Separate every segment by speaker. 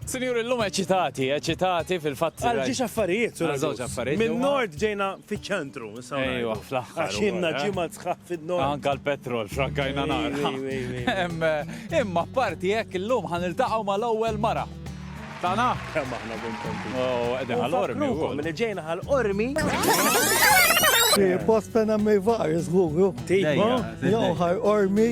Speaker 1: Sinjur illum eċitati, eċitati fil-fatt. Għal ġiex affarijiet, sur żewġ affarijiet. Minn nord ġejna fiċ-ċentru. Ejwa, fl-aħħar. Għax inna eh? ġimgħa sħaħ fin-nord. Anka l-petrol, xrakkajna nar. Eh, imma parti hekk illum ħan iltaqgħu mal-ewwel mara. Tana? Kemm aħna kontenti. Oh, qegħdin ħal-ormi. Minn ġejna ħal-ormi. Posta nammi var, żguru. Tejba, joħar ormi.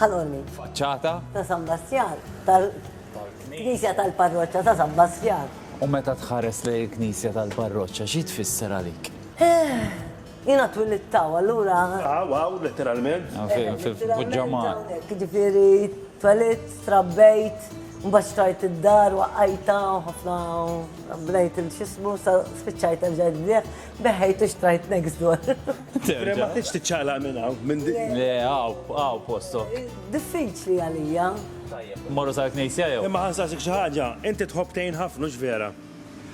Speaker 1: Ħaloni. Faċċata. Ta' San Bastjan. Tal-Knisja tal-Parroċċa ta' San Bastjan. U meta tħares lejn il-Knisja tal-Parroċċa, xi tfisser għalik? Eh, Jena twilittaw, allura. Aw, aw, letteralment. Ah, eh, Fil-ġamma. Ġifiri, twilit, trabbejt, mbax trajt id-dar, waqqajta, ħafna, blejt il-xismu, spiċċajt għal-ġajdliħ, beħejt u xtrajt next door. Terġa'. Ma tridx tiċċaqlaq minn hawn, minn dik. Le, hawn, hawn postok. Diffiċli għalija. Tajjeb. Morru sar knisja jew? Imma ħansaqsik xi ħaġa, inti tħobb tgħin ħafna, hux vera?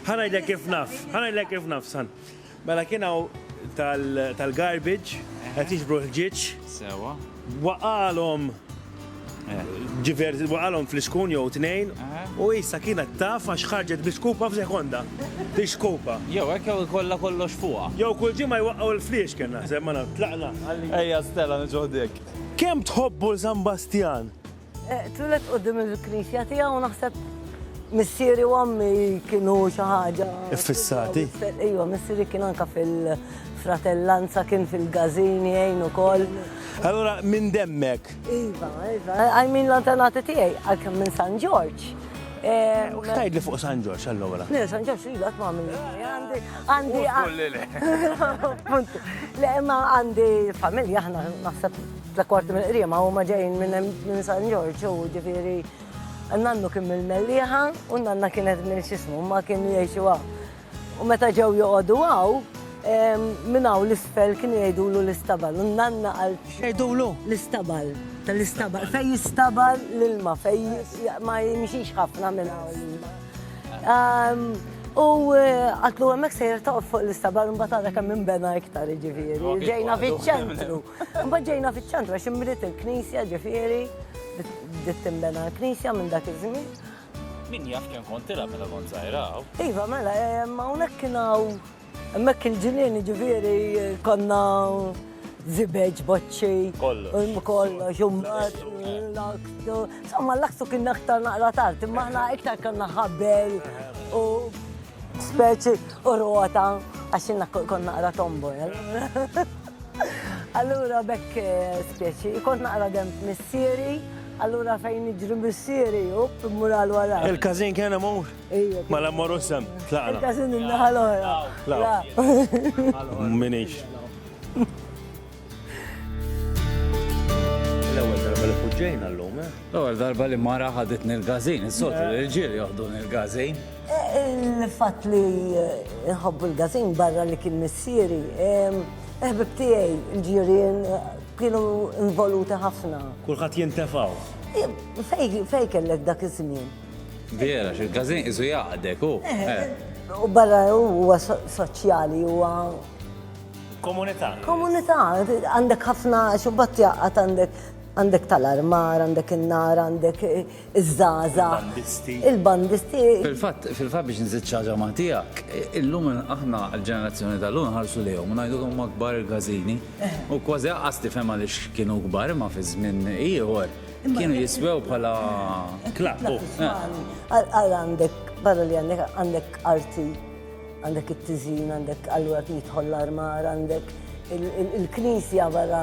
Speaker 1: Ħa ngħidlek kif naf, ħa ngħidlek kif naf, san. Mela kien hawn tal-garbage, qed jiġbru l-ħġieġ. Sewwa. Waqalhom waqalhom fl-iskun jew tnejn u issa kienet taf għax ħarġet bi skupa f'sekonda. Di skupa. Jew hekk jew ikollha kollox fuqha. Jew kull ġimgħa jwaqqgħu l-fliex kien naħseb ma naf tlaqna. Ejja Stella niġu ħdejk. Kemm tħobbu l-San Bastjan? Twilet qudiem il-knisja tiegħu naħseb missieri u għammi kienu xi ħaġa. Fissati. Ejwa, missieri kien anka fil-fratellanza kien fil-gazini għajn ukoll. Allora minn demmek. Iva, iva. I mean l-antenati tiegħi għalkemm minn San Ġorġ. Eh, u xtajt li fuq San Ġorġ allora? Le, San Ġorġ li għat ma' minn. Għandi, għandi. Le, ma' għandi familja ħna naħseb Tla kwarti mill-qriema huma ġejjin minn San Ġorġ u ġifieri nannu kien mill-Mellieħa u nanna kienet minn x'ismu ma kienu jgħixu hawn. U meta ġew joqogħdu hawn, minn hawn l-isfel kienu jgħidulu l-istabal u nanna għal jgħidulu l-istabal tal-istabal fejn jistabal l-ilma fejn ma jimxix ħafna minn hawn. U eh, għatlu għemmek sejr taqf fuq l-istabar un batara kam minn bena iktar ġiviri. Ġejna fiċ-ċentru. Mbagħad ġejna fiċ-ċentru għax inbniet il-knisja ġifieri, bdiet tinbena l-knisja minn dak iż-żmien. Min jaf kemm kont tilha meta kont żgħira hawn? Iva, mela, ma hawnhekk kien hawn hemmhekk il-ġinien ġifieri konna zibeġ, boċċi, kollox, kollox, umbat, l-aktu. Insomma, l-aktu kien aktar naqra tard, imma aħna iktar konna ħabel u speċi u rota għax konna naqra tombola. Allura bekk spieċi, kont naqra dem missieri, allura fejn iġri missieri, up, mural wara. Il-kazin kena mu? Ija. Ma la morru sem, tlaqna. Il-kazin il-naħal oħra. La. Minix. L-ewel darba li fuġġejna l-lum, eh? L-ewwel darba li mara ħaditni l-gażin, is-soltu li l-ġiel joħduni l-gażin. Il-fatt li nħobbu l-gażin barra li kien missieri, il-ħbib tiegħi, il-ġirien kienu involuti ħafna. Kulħadd jintefgħu. Fejn kellek dak iż-żmien? Vera, x'il-gażin qisu jgħaqdek hu. U barra huwa soċjali huwa. Komunità. Komunità, għandek ħafna xubbat jgħaqqad għandek Għandek tal-armar, għandek in-nar, għandek iż-żgħażagħ. Il-bandisti. Il-bandisti. Fil-fatt, fil-fatt biex nżid xi ħaġa ma' tiegħek, illum aħna l-ġenerazzjoni tal-lum nħarsu lejhom u ngħidu kemm huma kbar il-każini. U kważi aqqas tifhem għaliex kienu kbar imma fi żmien ieħor kienu jiswew bħala klapp. Għal għandek, barra li għandek għandek arti, għandek it-tiżin, għandek allura jidħol l-armar, għandek il-knisja barra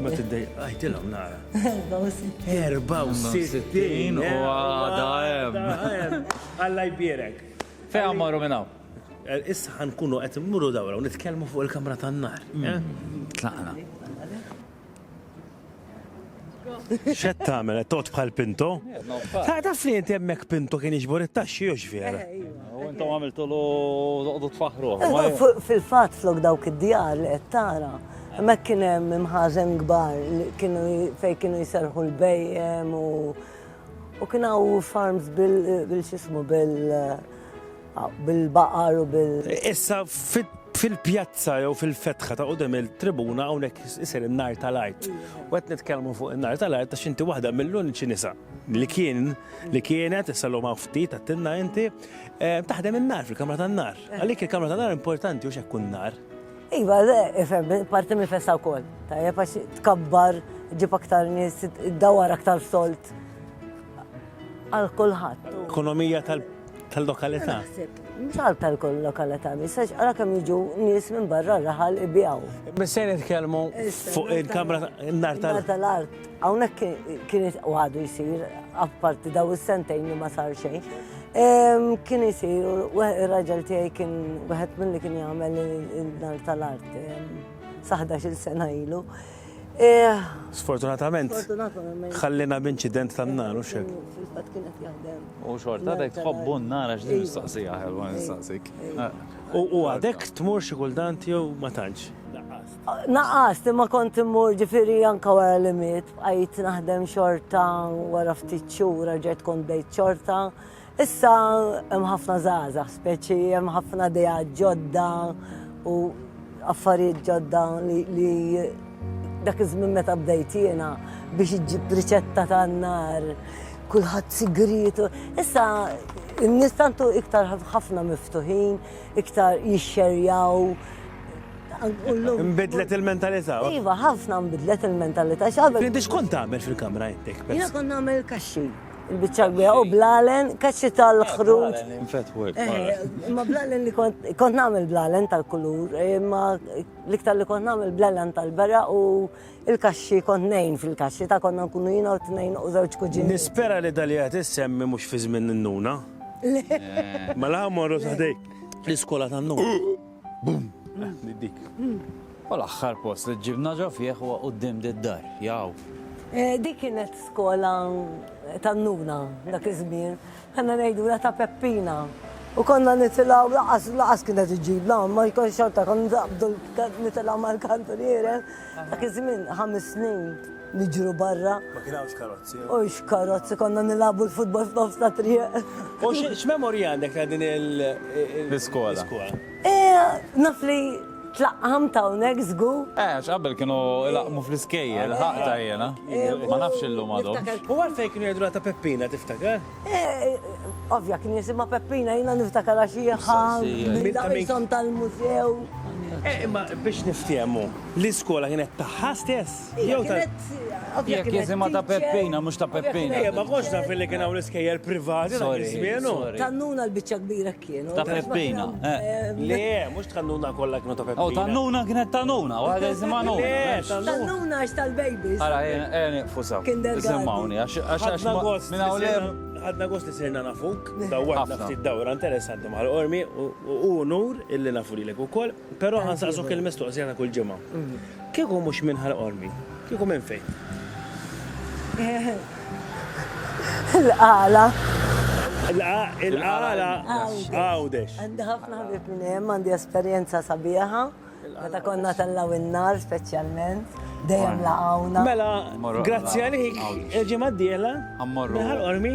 Speaker 1: Ma tiddej, għajtilom nara. 64 u għada hemm. Alla jbierek. Fejn għammaru minnaw? Eh, issa ħankunu qed immuru dawra u nitkellmu fuq il-kamra tan-nar. Mm. Eh? Tlaqna. Xed tagħmel qed tot bħal Pinto? Ta' taf li inti hemmhekk Pinto kien jiġbor it-taxxi jew x'vera. Eh, iva. U intom għamiltu lu tfaħru. Fil-fatt flok dawk id-djar li qed tara. Hemmhekk kien hemm imħażen kbar fejn kienu jserħu l-bejjem u kien hawn farms bil-xismu bil-baqar u bil. Issa fit fil-pjazza jew fil-fetħa ta' qudem il-tribuna hawnhekk isir in-nar tal-art. U qed nitkellmu fuq in-nar tal-art għax inti waħda mill-uniċi nisa li kien li kienet issa l ftit għattinna inti eh, taħdem in-nar fil-kamra tan-nar. Għalik il-kamra tan-nar importanti u xekk nar. Iva, ifhem, parti minn festa wkoll. Tajjeb għax tkabbar ġib aktar nies, dawar aktar solt għal kulħadd. Ekonomija tal-lokalità. Misal tal-kull lokalità, misax għara kemm jiġu nies minn barra raħal ibijaw. Bissejn nitkellmu fuq il-kamra nar tal-art. Hawnhekk kien u għadu jsir, apparti daw is-sentejn li ma sar xejn. Kien isir, ir-raġel tiegħi kien wieħed milli kien jagħmel il-nar tal-art saħda xil sena ilu. Eh, Sfortunatament, ħallina b'inċident tan-nar u xek. Fil-fatt kienet jaħdem. U xorta dek tħobbu n-nar għax din mistaqsija ħelwa nistaqsik. U għadek tmur xi kultant jew ma tantx. Naqqast, imma kont immur ġifieri anke wara li miet, bqajt naħdem xorta wara ftit xhur raġgħet kont bdejt xorta. Issa hemm ħafna żgħażagħ speċi, hemm ħafna dejja ġodda u affarijiet ġodda li dak iż-żmien meta bdejt jiena biex iġġib riċetta tan-nar, kulħadd sigriet. Issa n-nies tantu iktar ħafna miftuħin, iktar jixxerjaw. Nbidlet il-mentalità. Iva, ħafna nbidlet il-mentalità. Inti xkont tagħmel fil-kamra intek? Jiena kont nagħmel kaxxi. Il-biċċa kbira u blalen, kaxxi tal-ħruġ. Ma blalen li kont kont nagħmel blalen tal-kulur, imma l-iktar li kont nagħmel blalen tal-bera u il-kaxxi kont nejn fil-kaxxi ta' konna nkunu jiena u tnejn u żewġ kuġini. Nispera li dali qed issemmi mhux fi żmien n-nuna. Mela morru taħdejk l-iskola tan-nuna. Bum! Di dik. U l-aħħar post li ġibna ġo fih huwa quddiem d-dar, jaw. Eh, dik kienet skola tan-nuna dak iż-żmien, ħanna ngħidula ta' Peppina. U konna nitilaw laqas laqas kienet iġibna, ma jkun xorta kon naqbdu nitilaw mal-kantuniere, dak iż-żmien ħames snin Niġru barra. Ma kien hawnx karozzi. Hux karozzi, konna nilagħbu l-futbol f'nofs ta' triq. U x'memorji għandek ta' din il. L-iskola. Naf li tlaqqamt hawnhekk żgur. Eh, għax qabel kienu jlaqqmu fl-iskejjel, il-ħaqta jiena. Ma nafx illum għadhomx. U għalfejn kienu jgħidulha ta' Peppina, tiftakar? Ovvja, kien jisimha Peppina, jiena niftakar għax hi ħa dawk ishom tal-mużew. Eh, imma biex niftehmu, l-iskola kienet tagħha stess? Jew ta' Jekk jisimha ta' Peppina mhux ta' Peppina. Ejja, ma kontx naf li kien hawn l-iskejjel privati dak iż-żmien. Tannuna l-biċċa kbira kienu. Ta' Peppina. Le, mhux tannuna kollha kienu ta' Peppina. Oh, tannuna kienet tannuna, waħda jisimha nuna. Le, tannuna. Tannuna għax tal-babies. Ara, ejja nieqfu sew. Iżommawni għax għax minn hawn l-hemm. Ħadna gost li sirna nafuk, dawwarna ftit dawra interessanti mal-qormi u hu unur illi nafu lilek ukoll. Però ħa nsaqsuk il-mistoqsija ta' kull ġimgħa. Kieku mhux minn Ħal Qormi, kieku minn fejn? Il-Qala. Il-Qala Għawdex. Għandi ħafna ħbieb minn hemm, għandi esperjenza sabiħa. Meta konna tellaw in-nar speċjalment, dejjem laqgħuna. Mela, grazzi għalik, il-ġimgħa d-dieħla, minn Ħal Qormi.